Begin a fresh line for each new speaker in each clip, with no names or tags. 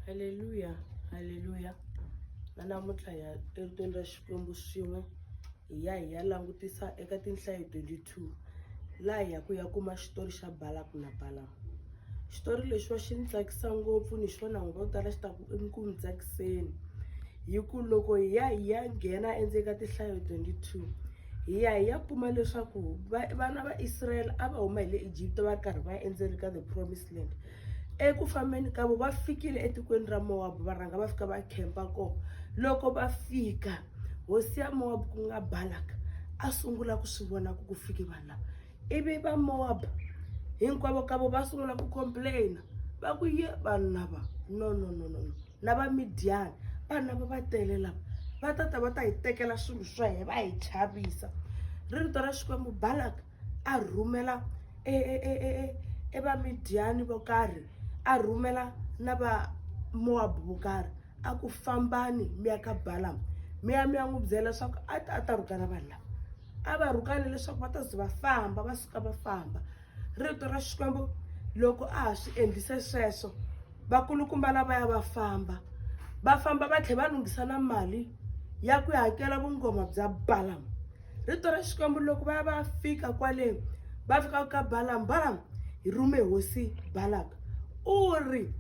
Haleluya haleluya na namuntlha hi ya eritweni ra Xikwembu swin'we hi ya hi ya langutisa eka tinhlayo 22 laha hi ya ku ya kuma xitori xa Balaku na Balamu xitori lexiwa xi ni tsakisa ngopfu ni xona n'wi vo tala xi ta ku ku mi tsakiseni hi ku loko hi ya hi ya nghena endzeni ka tinhlayo 22 hi ya hi ya kuma leswaku vana va Israel a va huma hi le Egypt va ri karhi va endzeni ka the promised land eku fambeni ka vo va fikile etikweni ra mowabu va rhanga va fika va khempa kona loko va fika hosi ya mowabu ku nga balaka a sungula ku swi vona ku ku fike vanhu lava ivi va mowabu hinkwavo ka vo va sungula ku complaina va ku ye vanhu lava no no no no no na va midyani vanhu lava va tele lava va ta ta va ta hi tekela swilo swa hina va hi chavisa rito ra xikwembu balaka a rhumela e, e, e, e, e, e vamidyani vo karhi a rhumela na vamowabu vo karhi a ku fambani mi ya ka balamu mi ya mi ya n'wi byela leswaku a ta a ta rhukana vanhu lava a va rhukane leswaku va ta ze va famba va suka va famba rito ra xikwembu loko a ha swi endlise sweswo vakulukumba lava ya va famba va famba va tlhela va lunghisa na mali ya ku hakela vungoma bya balamu rito ra xikwembu loko va ya va fika kwale va fika ka balamu balamu hi rume hosi balaka u ri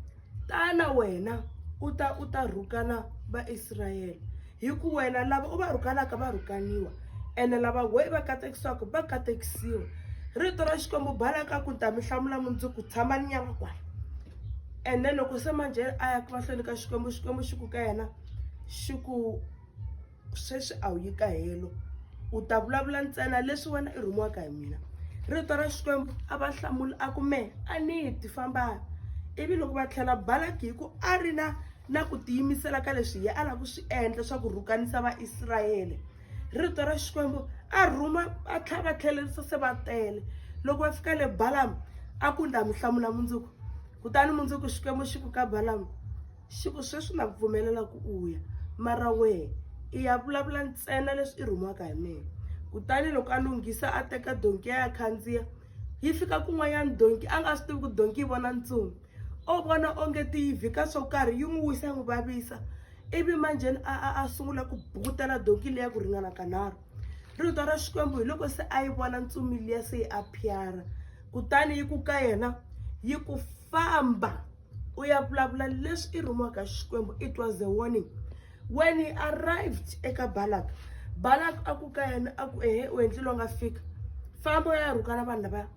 tana wena u ta u ta rhukana vaisrayele hi ku wena lava u va rhukanaka va rhukaniwa ene lava we va katekisiwaka va katekisiwa rito ra xikwembu balaka ku ta mi hlamula mundzuku tshama ni nyama kwala and then loko se manjhe a ya ku mahlweni ka xikwembu xikwembu xi ku ka yena xi ku sweswi a wu yi ka helo u ta vulavula ntsena leswi wena i rhumiwaka hi mina rito ra xikwembu a va hlamula a ku mehe a ni ti famba ivi loko va tlhela balaki hi ku a ri na na ku tiyimisela ka leswi ye a lava ku swi endla swa ku rhukanisa vaisrayele rito ra xikwembu a rhuma a tlha va tlhelerisa se va tele loko va fika le balamu a ku nda mi hlamula mundzuku kutani mundzuku xikwembu xi ku ka balamu Xi ku, Sweswi na ku pfumelela ku u ya, mara wehe i ya vulavula ntsena leswi i rhumiwaka hi mina. Kutani loko a lunghisa a teka donki ya ya khandziya, yi fika kun'wanyana donki a nga swi tivi ku donki yi vona ntsumi. O vona onge ti yi vhika swo karhi, yi n'wi wisa yi n'wi vavisa. Ivi manjheni a a a sungula ku bukutela donki liya ku ringana kanharhu. Rito ra Xikwembu hi loko se a yi vona ntsumi liya se yi aphyara, kutani yi ku ka yena, yi ku, Famba! u ya vulavula leswi i rhumiwaka xikwembu it was a warning when he arrived eka balak balak a ku ka yena a ku ehe u endlile u nga fika famba u ya rhukana vanhu lavaya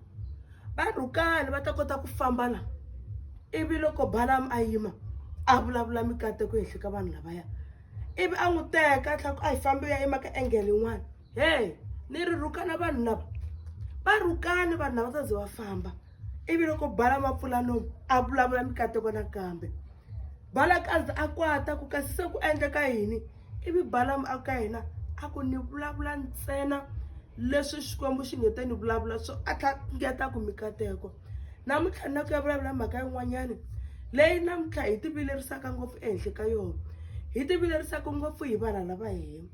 va rhukani va ta kota ku famba la ivi loko balam a yima a vulavula mikateko ehenhla ka vanhu lavaya ivi a n'wi teka a tlhela ku a hi fambi u ya yima ka engele yin'wana he ni ri rhukana vanhu lava va rhukani vanhu lava saze va famba ivi loko bala mapfulanomu a vulavula mikateko nakambe balakazi a kwata ku kasi se ku endleka yini ivi balamu a ka yena a ku ni vulavula ntsena leswi xikwembu xi nge te ni vulavula swo a tlhangeta ku mikateko namuntlha ni na ku ya vulavula mhaka yin'wanyana leyi namuntlha hi tivilerisaka ngopfu ehenhla ka yona hi tivilerisaka ngopfu hi vanhu lava hina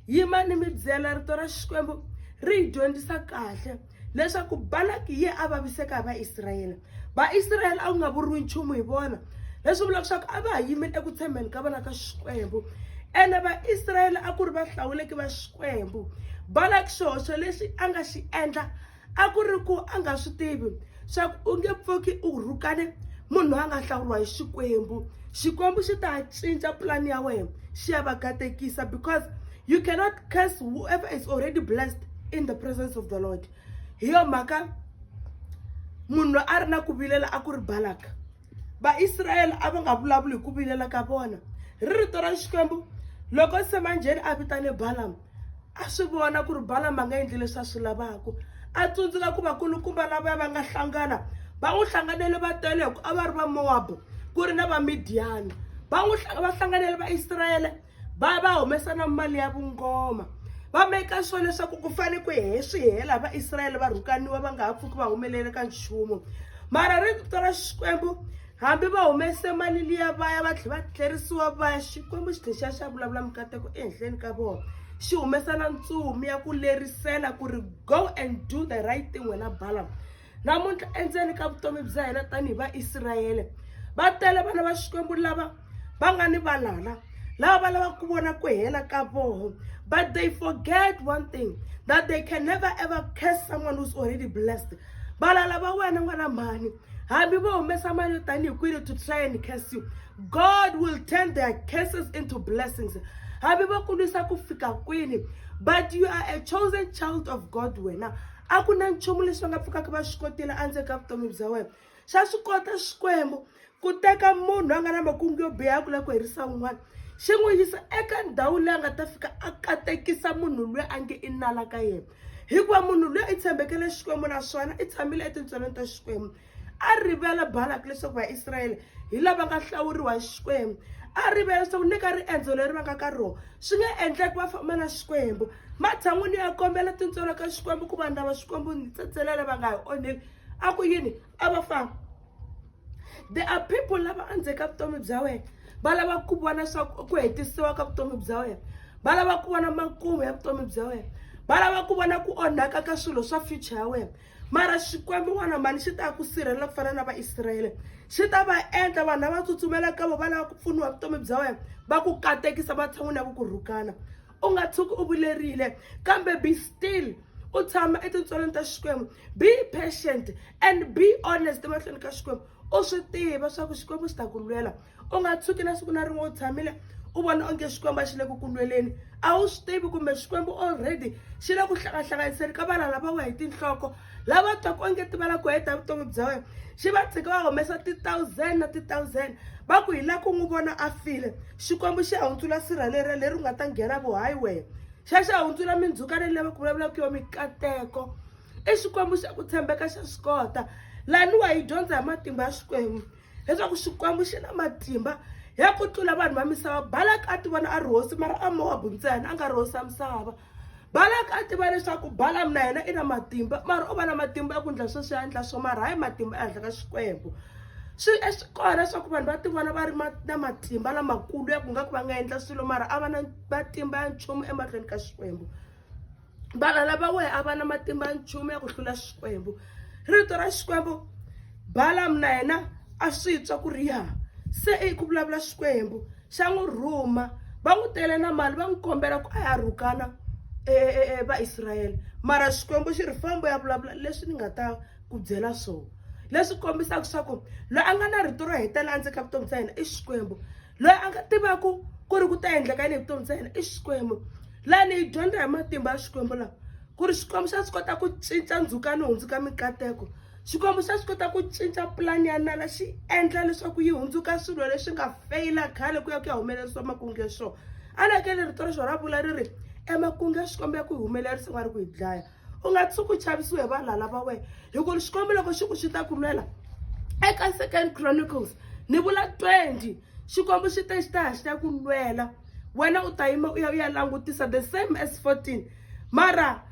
yimani mi byela rito ra xikwembu ri hi dyondzisa kahle leswaku balaki ye a vaviseka hi vaisrayele vaisrayele a ku nga vuriwi nchumu hi vona leswi vulaka leswaku a va ha yimile eku tshembeni ka vona ka xikwembu ene vaisrayele a ku ri va hlawuleki va xikwembu balaki xihoxo lexi a nga xi endla a ku ri ku a nga swi tivi swa ku u nge pfuki u rhukane munhu loyi a nga hlawuriwa hi xikwembu xikwembu xi ta cinca pulani ya wena xi ya va katekisa because you cannot curse whoever is already blessed in the presence of the lord hi yo mhaka munhu loyi a ri na ku vilela a ku ri balaka vaisrayele a va nga vulavuli hi ku vilela ka vona ri rito ra xikwembu loko semanjheni a vitane balamu a swi vona ku ri balamu a nga endli leswi a swi lavaka a tsundzuka ku vakulukumba lavaya va nga hlangana va n'wi hlanganele va tele hi ku a va ri va mowabu ku ri na vamidiyani va n'wi va hlanganele vaisrayele va va humesa na mali ya vungoma va meka sure leswaku ku fane ku he swi hela vaisrayele va rhukaniwa va nga ha pfuki va humelele ka nchumu mara ri vito ra xikwembu hambi va humese mali liya va ya va tlhela va tlerisiwa va ya xikwembu xi tlhela xi ya vulavula mikateko ehenhleni ka vona xi humesa na ntsumi ya ku lerisela ku ri go and do the right thing wena balamu namuntlha endzeni ka vutomi bya hina tanihi vaisrayele va tele vana va xikwembu lava va nga ni valala lava va lavaka ku vona ku hela ka voho but they forget one thing that they can never ever curse someone who's already blessed valala va wena n'wana mhani hambi vo humesa mali yo tanihi kwini to try and curse you god will turn their curses into blessings hambi va ku lwisa ku fika kwini but you are a chosen child of god wena a ku na nchumu leswi va nga pfukaka va swi kotile endzeni ka vutomi bya wena xa swi kota xikwembu ku teka munhu a nga na makungu yo biha ya ku lava ku herisa un'wana xi n'wi yisa eka ndhawu leyi a nga ta fika a katekisa munhu loyi a nge i nala ka yena hikuva munhu loyi i tshembekele xikwembu naswona i tshamile etintswelweni ta xikwembu a rivele balaki leswaku vaisrayele hi lava nga hlawuriwa hi xikwembu a rivele leswaku ni ka riendzo leri va nga ka rona swi nga endleki va famba na xikwembu matshan'wini ya kombela tintswalo ka xikwembu ku vanhu lava xikwembu ni tsetselela va nga hi onheli a ku yini a va famba there are people lava andzeka vutomi bya wena va lava ku vona swaku ku hetisiwa ka vutomi bya wena va lava ku vona makumu ya vutomi bya wena va lava ku vona ku onhaka ka swilo swa future ya wena mara xikwembu n'wana mani xi ta ku sirhelela ku fana na vaisrayele xi ta va endla vanhu lava tsutsumela ka vo va lava ku pfuniwa vutomi bya wena va ku katekisa matshan'wini ya ku ku rhukana u nga tshuki u vulerile kambe be still u tshama etintswalweni ta xikwembu be patient and be honest emahlweni ka xikwembu u swi tiva swa ku xikwembu xi ta ku lwela u nga tshuki na siku na rin'we u tshamile u vona onge xikwembu a xi le ku kulweleni a wu swi tivi kumbe xikwembu already xi le ku hlangahlanganiseni ka vana lava wa hi tinhloko lava twaka onge ti va la ku heta vutomi bya wena xi va tshika va humesa ti-thousand na ti-thousand va ku hi la ku n'wi vona a file xikwembu xi hundzula sirha leriya leri u nga ta nghena vo hayi wehe xa xi hundzula mindzuka leyi lava ku vulavulaka yo mikateko i xikwembu xa ku tshembeka xa swi kota laniwa hi dyondza hi matimba ya xikwembu leswaku xikwembu xi na matimba ya ku tlula vanhu va misava balaka a ti vona a ri hosi mara a mowabu ntsena a nga ri hosi ya misava balaka a tiva leswaku balamu na yena i na matimba mara u va na matimba ya ku endla sweswi ya endla swo mara hayi matimba ehenhla ka xikwembu swi e swi kona leswaku vanhu va tivona va ri na matimba lamakulu ya ku nga ku va nga endla swilo mara a va na matimba ya nchumu emahlweni ka xikwembu valala va wehe a va na matimba nchumu ya ku hlula xikwembu rito ra xikwembu balamu na yena a swi twa ku ri ya se i ku vulavula xikwembu xa n'wi rhuma va n'wi tele na mali va n'wi kombela ku a ya rhukana e, e, e, vaisrayele mara xikwembu xi ri fambo ya vulavula leswi ni nga ta ku byela swona leswi kombisaka swa ku loyi a nga na rito ro hetelela endzeni ka vutomi bya yena i xikwembu loyi a nga tivaka ku ri ku ta endleka yini vutomi bya yena i xikwembu laha ni yi dyondza hi matimba ya xikwembu lawa ku ri xikwembu xa swi kota ku cinca ndzhuka ni hundzuka mikateko xikwembu xa swi kota ku cinca pulani ya nala xi endla leswaku yi hundzuka swilo leswi nga feyila khale ku ya ku ya humelerisiwa makunge swona a ni hakeli rito ra xona ra vula ri ri emakunge ya xikwembu ya ku humelerisa nga ri ku yi dlaya u nga tshuki u chavisiwe hi valala va wena hi ku xikwembu loko xi ku xi ta kumela eka second chronicles ni vula 20 xikwembu xi te xi ta ya xi ta ku lwela wena u ta yima u ya u ya langutisa the same as 14 mara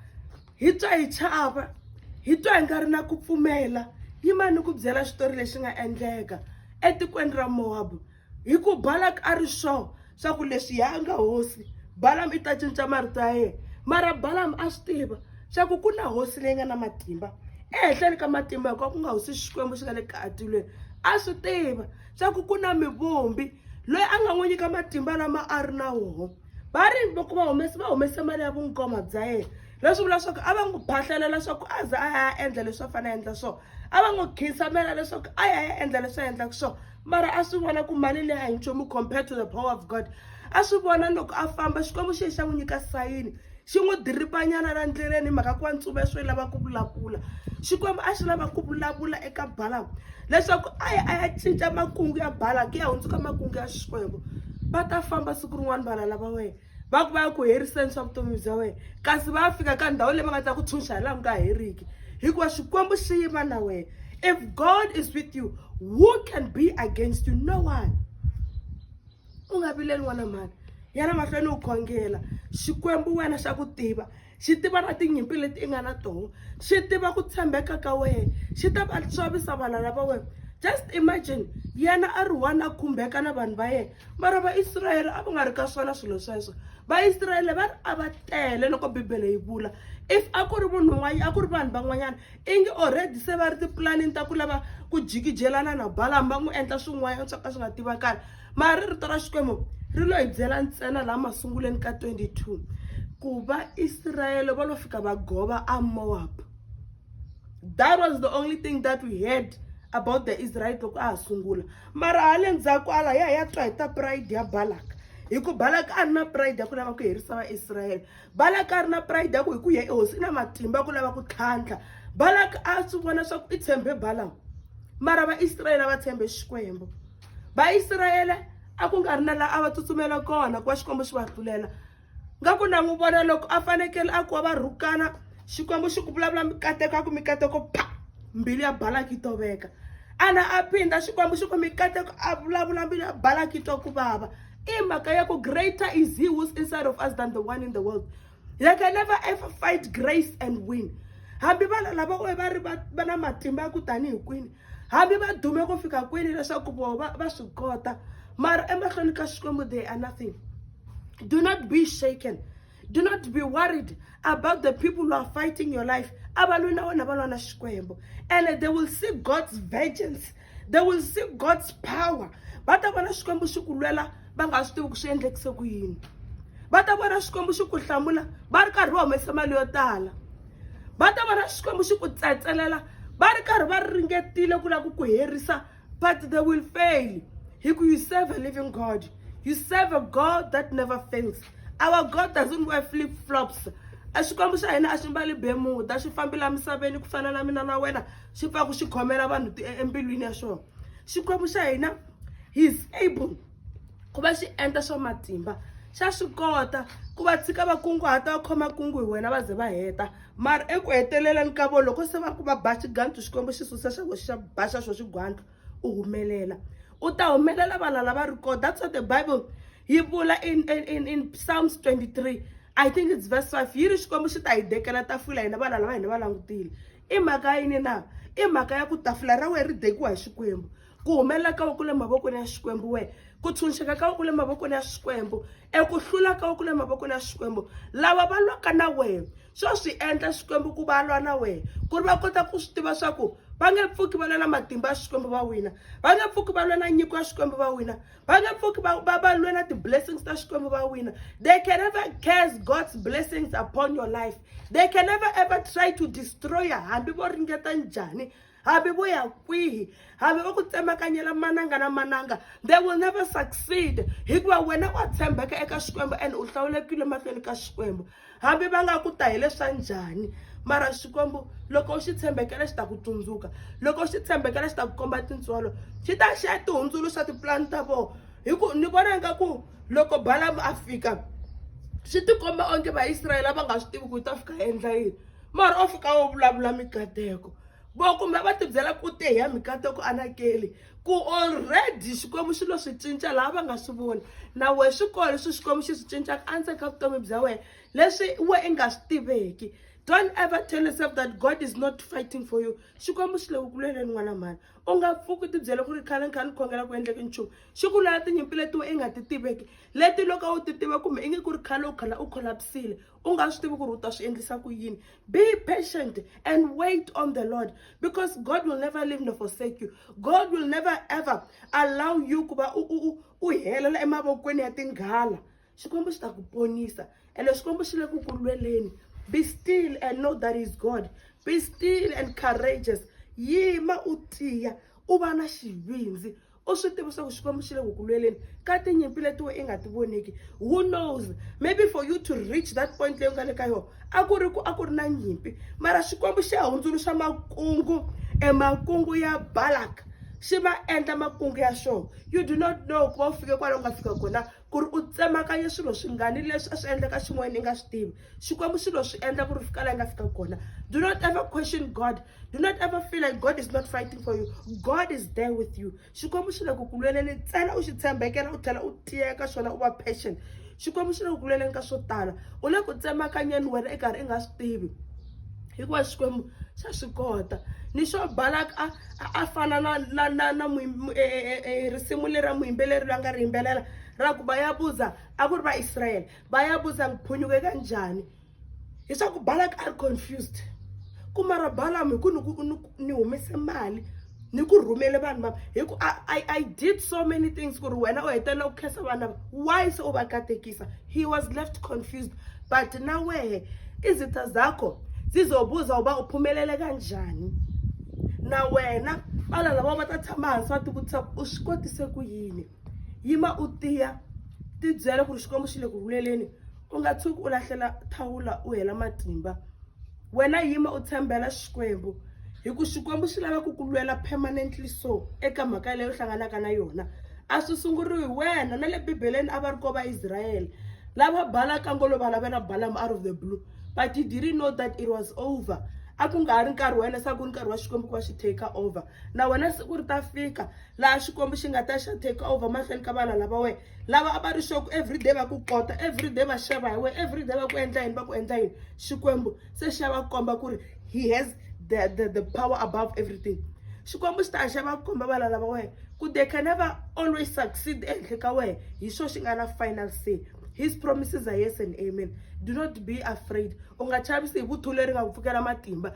hi twa hi chava hi twa hi nga ri na ku pfumela yimani ku byela xitori lexi nga endleka etikweni ra mowabu hi ku balak a ri sure swa ku leswi ya nga hosi balam i ta cinca marito ya yena mara balam a swi tiva swa ku ku na hosi leyi nga na matimba ehenhleni ka matimba hikuva ku nga hosi xikwembu xi nga le katilweni a swi tiva swa ku ku na mivumbi loyi a nga n'wi nyika matimba lama a ri na woho va ri loko va humese va humese mali ya vungoma bya yena leswi vula swa ku a va n'wi phahlalela swa ku a za a ya endla leswi a fanele a endla swona a va n'wi khinsamela leswaku a ya ya endla leswi a endlaka swona mara a swi vona ku mali leyi a hi nchumu compared to the power of god a swi vona loko a famba xikwembu xi ye xa n'wi nyika sayini xi n'wi diripanyana la ndleleni hi mhaka ku wa ntsumi swi lava ku vulavula xikwembu a xi lava ku vulavula eka balamu leswaku a ya a ya cinca makungu ya balamu ku ya hundzuka makungu ya xikwembu va ta famba siku rin'wana vana lava wena va ku va ya ku heriseni swa vutomi bya wena kasi va fika ka ndhawu leyi va nga ta ku tshunxa hi laha ku nga heriki hikuva xikwembu xi yima na wena if god is with you who can be against you no one u nga vileli n'wana mhani yana mahlweni u khongela xikwembu wena xa ku tiva xi tiva na tinyimpi leti i nga na toho xi tiva ku tshembeka ka wena xi ta va xavisa vana lava wena just imagine yena a ri one a khumbeka na vanhu va yena mara vaisrayele a va nga ri ka swona swilo sweswo vaisrayele va ri a va tele loko bibele yi vula if a ku ri munhu un'wana a ku ri vanhu van'wanyana i nge already se va ri tipulanini ta ku lava ku jikijelana na balami va n'wi endla swin'wanyana swo ka swi nga tivakali mara ri rito ra xikwembu ri lo hi byela ntsena laha masunguleni ka 22 ku vaisrayele va lo fika va gova a moab that was the only thing that we heard about the israel loko a ha sungula mara hale ndzhaku ala ya ya twa hi ta pride ya balak hi ku balak a ri na pride ya ku lava ku herisa vaisrayele balak a ri na pride ya ku hi ku ya ehosi i na matimba ya ku lava ku tlhantlha balak a swi vona swa ku i tshembe balam mara vaisrayele a va tshembe xikwembu vaisrayele a ku nga ri na laha a va tsutsumela kona ku va xikwembu xi va hlulela nga ku na n'wi vona loko a fanekele a kuva va rhukana xikwembu xi ku vulavula mikateko a ku mikateko pa mbilu ya balaki yi toveka ana a phinda xikwembu xi ku mikateko a vulavula mbilu ya balaki yi twa ku vava i mhaka ya ku greater is he who's inside of us than the one in the world they can never ever fight grace and win hambi vana lava oe va ri va na matimba ya ku tanihi kwini hambi va dume ku fika kwini leswaku voho va va swi kota mara emahlweni ka xikwembu they are nothing do not be shaken do not be worried about the people who are fighting your life a va lwi na wena va lwa na xikwembu and they will see god's vengeance they will see god's power va ta vona xikwembu xi ku lwela va nga swi tivi ku swi endlekise ku yini va ta vona xikwembu xi ku hlamula va ri karhi va humese mali yo tala va ta vona xikwembu xi ku tsetselela va ri karhi va ringetile ku lava ku ku herisa but they will fail hi ku you serve a living god you serve a god that never fails our god doesn't wear flip flops a xikwembu xa hina a xi mbali bemuda xi fambela misaveni ku fana na mina na wena xi pfaku xi khomela vanhu e, embilwini ya swona xikwembu xa hina heis able ku va xi endla swa matimba xa swi kota ku va tshika va kunguhata va khoma kungu hi wena va ze va heta mara eku heteleleni ka vo loko se va ku va ba xigandlu xikwembu xi susa xa xa ba xa xo xigwandlu u humelela u ta humelela vana lava ri kona that's what the bible yi vula in, in, in, in psalms 23 i think it's verse 5 yi ri xikwembu xi ta hi dekela tafula hina vana lava hina va langutile i mhaka yini na i mhaka ya ku tafula ra wena ri dekiwa hi xikwembu ku humelela ka ku le mavokweni ya xikwembu we ku tshunxeka ka ku le mavokweni ya xikwembu eku hlula ka ku le mavokweni ya xikwembu lava va lwaka na wena swo swi endla xikwembu ku va lwa na wena ku ri va kota ku swi tiva swa ku va nge pfuki va lwa na matimba ya xikwembu va wina va nge pfuki va lwa na nyiko ya xikwembu va wina va nge pfuki va va va lwela ti-blessings ta xikwembu va wina they can never case god's blessings upon your life they can never ever try to destroy ya hambi vo ringeta njhani hambi vo ya kwihi hambi va ku tsemakanyela mananga na mananga they will never succeed hikuva wena wa tshembeka eka xikwembu and u hlawulekile mahlweni ka xikwembu hambi va nga ku ta hi leswa njhani mara xikwembu loko u xi tshembekela xi ta ku tsundzuka loko u xi tshembekela xi ta ku komba tintswalo xi ta xi ya tihundzuluxa tipulani ta vona hi ku ni vona nga ku loko balamu a fika swi tikomba onge vaisrayele va nga swi tivi ku yi ta fika endla yini mara o fika wo vulavula mikateko vo kumbe va tibyela ku te hi ya mikateko anakeli ku already xikwembu xi lo swi cinca laha va nga swi voni na wehe swi kona leswi xikwembu xi swi cincaka endzeni ka vutomi bya wena leswi we i nga swi tiveki don't ever tell yourself that god is not fighting for you xikwembu xi le ku kuleleni n'wana mhani u nga pfuki tibyele ku ri khale ni kha ni khongela ku endleki nchumu xi ku lwela tinyimpi leti we i nga ti tiveki leti loko u ti tiva kumbe i nge ku ri khale u khala u kholapsile u nga swi tivi ku ri u ta swi endlisa ku yini be patient and wait on the lord because god will never leave nor forsake you god will never ever allow you ku va u helela emavokweni ya tinghala xikwembu xi ta ku ponisa ene xikwembu xi le ku ku lweleni be still and know that is god be still and courageous yima u tiya u va na xivindzi u swi tivi swa ku xikwembu xi le ku ku lweleni ka tinyimpi leti we i nga ti voneki who knows maybe for you to reach that point leyi u nga le ka yona a ku ri ku a ku ri na nyimpi mara xikwembu xi ya hundzuluxa makungu e makungu ya balak xi ma endla makungu ya xona you do not know ku va u fike kwala u nga fika kona ku ri u tsemakanye swilo swingani leswi a swi endleka xin'wana i nga swi tivi xikwembu swilo swi endla ku ri fika laha i nga fika kona do not ever question god do not ever feel like god is not fighting for you god is there with you xikwembu xi le ku ku lweleni ntsena u xi tshembekela u tlhela u tiyeka swona u va passion xikwembu xi le ku ku lweleni ka swo tala u le ku tsemakanyeni wena i karhi i nga swi tivi hikuva xikwembu xa swi kota ni xo balak a a fana na na na na e, e, e, risimu leri ra muyimbeleri loyi a nga ri yimbelela ra ku va ya buza a ku ri vaisrayele va ya buza ngiphunyuke ka njhani leswaku balak a ri confused kuma ra balamu hi ku ni ni humese mali ni ku rhumele vanhu va hi ku I, I did so many things ku ri wena u hetelela ku khensa vana va why se u va katekisa he was left confused but na wehe izitha zakho zizobuza uba uphumelele kanjani na wena bala lava va ta tshama hansi va tivutisa ku u swi kotise ku yini yima u tiya tibyela ku ri xikwembu xi le ku rhuleleni u nga tshuki u lahlela thawula u hela matimba wena yima u tshembela xikwembu hi ku xikwembu xi lava ku ku lwela permanently so eka mhaka leyi u hlanganaka na yona a swi sunguriwi hi wena na le bibeleni a va ri ko vaisrayele lava balaka ngolo va lavela balama out of the blue but he didn't know that it was over a ku nga ha ri nkarhi wa yena se a ku ri nkarhi wa xikwembu ku va xi take over na wena siku ri ta fika laha xikwembu xi nga ta xa take over mahlweni ka vana lava wena lava a va ri xoku everyday va ku kota everyday va xava hi wena everyday va ku endla yini va ku endla yini xikwembu se xi ya va komba ku ri he has the, the, the power above everything xikwembu xi ta xa va komba vana lava wena ku they can never always succeed ehenhla ka wena hi xo xi nga na final say his promises are yes and amen do not be afraid u nga chavisi hi vuthu leri nga ku pfukela matimba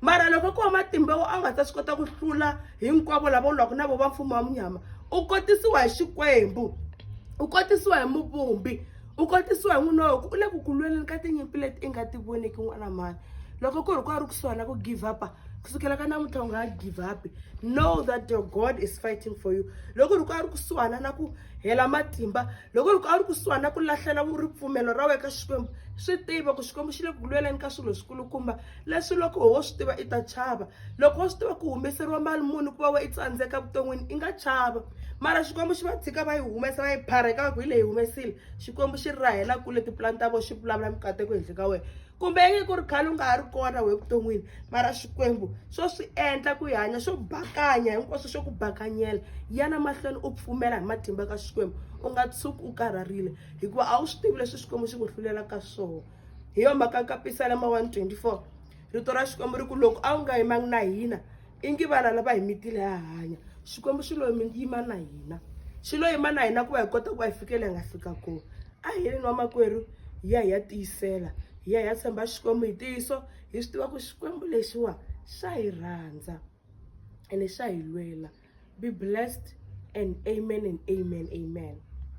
mara loko ko wa matimba wo a nga ta swi kota ku hlula hinkwavo lava u lwaka na vo va mfumo wa munyama u kotisiwa hi xikwembu u kotisiwa hi muvumbi u kotisiwa hi n'wina woku u le ku ku lweleni ka tinyimpi leti i nga ti voniki n'wana mani loko ku ri ku a ri kusuhi na ku give up kusukela ka namuntlha u nga give up know that your god is fighting for you loko ri ku a ri kusuhana na ku hela matimba loko ri ku a ri kusuhana ku lahlela ripfumelo ra wena ka xikwembu swi tiva ku xikwembu xi le ku lweleni ka swilo swikulukumba leswi loko wo swi tiva i ta chava loko wo swi tiva ku humeseriwa mali muni ku va wa i tsandzeka vuton'wini i nga chava mara xikwembu xi va tshika va yi humesa va yi phareka ku hi leyi humesile xikwembu xi rahela kule tipulani ta vona xi vulavula mikateko henhla ka wena kumbe yinge ku ri khale u nga ha ri kona we vuton'wini mara xikwembu swo swi endla ku yi hanya swo bakanya hinkwaswo swo ku bakanyela yana mahlweni u pfumela hi matimba ka xikwembu u nga tshuki u karharile hikuva a wu swi tivi leswi xikwembu xi ku hlulelaka swona hi yo mhaka ka pisalama 124 rito ra xikwembu ri ku loko a wu nga yimangi na hina ingi vana lava hi mitile ha hanya xikwembu xi lo yima na hina xi lo yima na hina ku va hi kota ku va hi fikele hi nga fika kona a hi ri nwa makwerhu hi ya hi ya tiyisela hi ya hi ya tshemba xikwembu hi ntiyiso hi swi tiva ku xikwembu lexiwa xa hi rhandza ene xa hi lwela be blessed and amen and amen amen